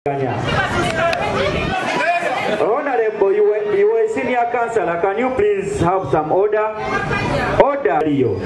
Kanya. Honorable, you were, you were a senior councillor. Can you please have some order? Order, Leo.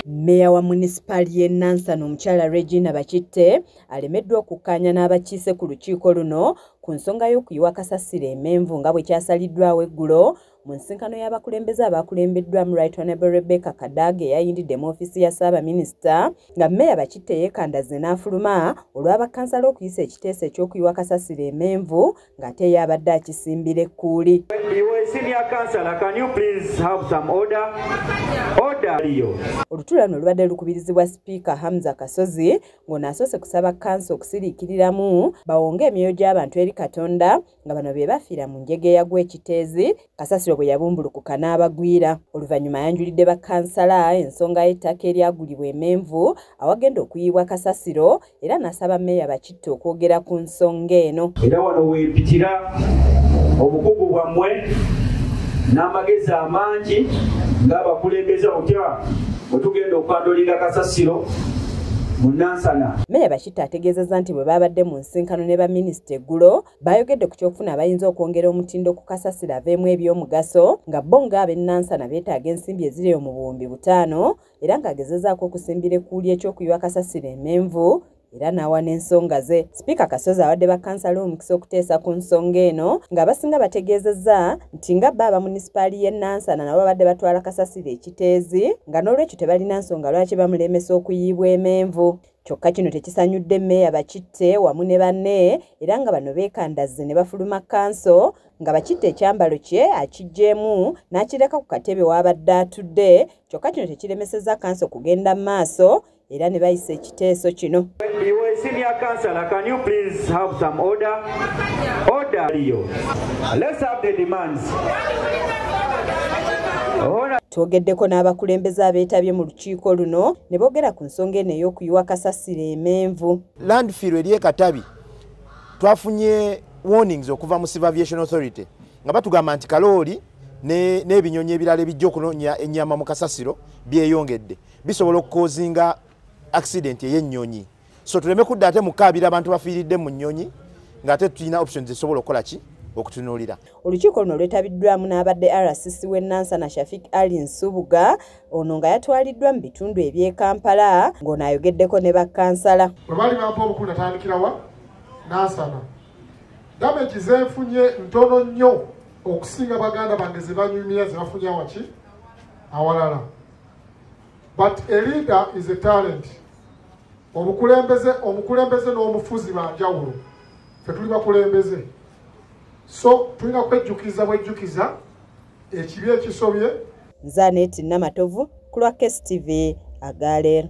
Meya wa munisipaali y'e Nansana omukyala Regina Bakitte alemeddwa okukkaanya n'abakiise ku lukiiko luno ku nsonga y'okuyiwa kasasiro emenvu nga bwe kyasaliddwawo eggulo Mu nsinkano y'abakulembeze abaakulembeddwamu Right Honorable Rebecca Kadaga eyayindidde mu ofiisi ya Ssaabaminisita nga mmeeya Bakitte yeekandazze n'afuluma olwa bakkansala okuyisa ekiteeso eky'okuyiwa kasasiro emenvu ng'ate eyo abadde akisimbira ekkuuli. Olutuula luno lubadde lukubirizibwa sipiika Hamza Kasozi ng'ono asoose kusaba kkansa okusiriikiriramu bawonge emyoyo gy'abantu eri Katonda nga bano be bafiira mu njega eyagwa ekiteezi kasasiro bwe yabumbulukuka n'abagwira oluvannyuma ayanjulidde bakansala ensonga y'ettaka eryagulibwa emenvu awagenda okuyiibwa kasasiro era n'asaba meeya bakitte okwogera ku nsonga eno era wano weepitira obukugu bwammwe n'amagezi amangi ng'abakulembeza otya bwe tugenda okwandulinga kasasiro mu nansana Peter ategeezezza nti bwe baabadde mu nsinkano ne baminisita eggulo baayogedde ku ky'okufuna abayinza okwongera omutindo ku kasasiro aveemu eby'omugaso nga bo ng'abennansana beetaaga ensimbi eziri omu buwumbi butaano era ng'agezezaako okusimbira ekkuuli eky'okuyiwa kasasiro emenvu era n'awa n'ensonga ze sipiika kasozi awadde bakansala omukisa okuteesa ku nsonga eno ng'abasinga bategeezezza nti nga bba aba munisipaali y'e nansana nabo babadde batwala kasasiro ekiteezi nga n'olwekyo tebalina nsonga lwaki bamulemesa okuyiibwa emenvu Kyokka kino tekisanyudde meeya Bakitte wamu ne banne era nga bano beekandazze ne bafuluma kkanso nga Bakitte ekyambalo kye akiggyeemu n'akireka ku katebe w'abadde atudde kyokka kino tekiremesezza kkanso kugenda mu maaso era ne bayisa ekiteeso kino twogeddeko n'abakulembeze abeetabye mu lukiiko luno ne boogera ku nsonga eno ey'okuyiwa kasasiro emenvu landfill eri ekatabi twafunye warnings okuva mu civil aviation authority nga batugamba nti kalooli n'ebinyonyi ebirala ebijja okunonya ennyama mu kasasiro byeyongedde bisobola okukozinga accident ey'ennyonyi so tuleme kudda ate mukaabira abantu bafiiridde mu nnyonyi ng'ate tulina options zisobola okukola ki okutunuulira olukiiko luno lwetabiddwamu n'abadde rcc w'e nansana shafik ali nsubuga ono nga yatwaliddwa mu bitundu eby'e kampala ng'ono ayogeddeko ne bakkansala bwe baali bampa obukulu natandikirawa nansana damagi zenfunye ntono nnyo okusinga baganda bange ze banyumira ze bafunye awaki awalala but a leader is a talent obukulembeze omukulembeze n'omufuzi banjawulo fe tuli bakulembeze so tulina kwejjukiza bwejjukiza ekibi ekisobye nze aneeti namatovu ku lwa kstv agaler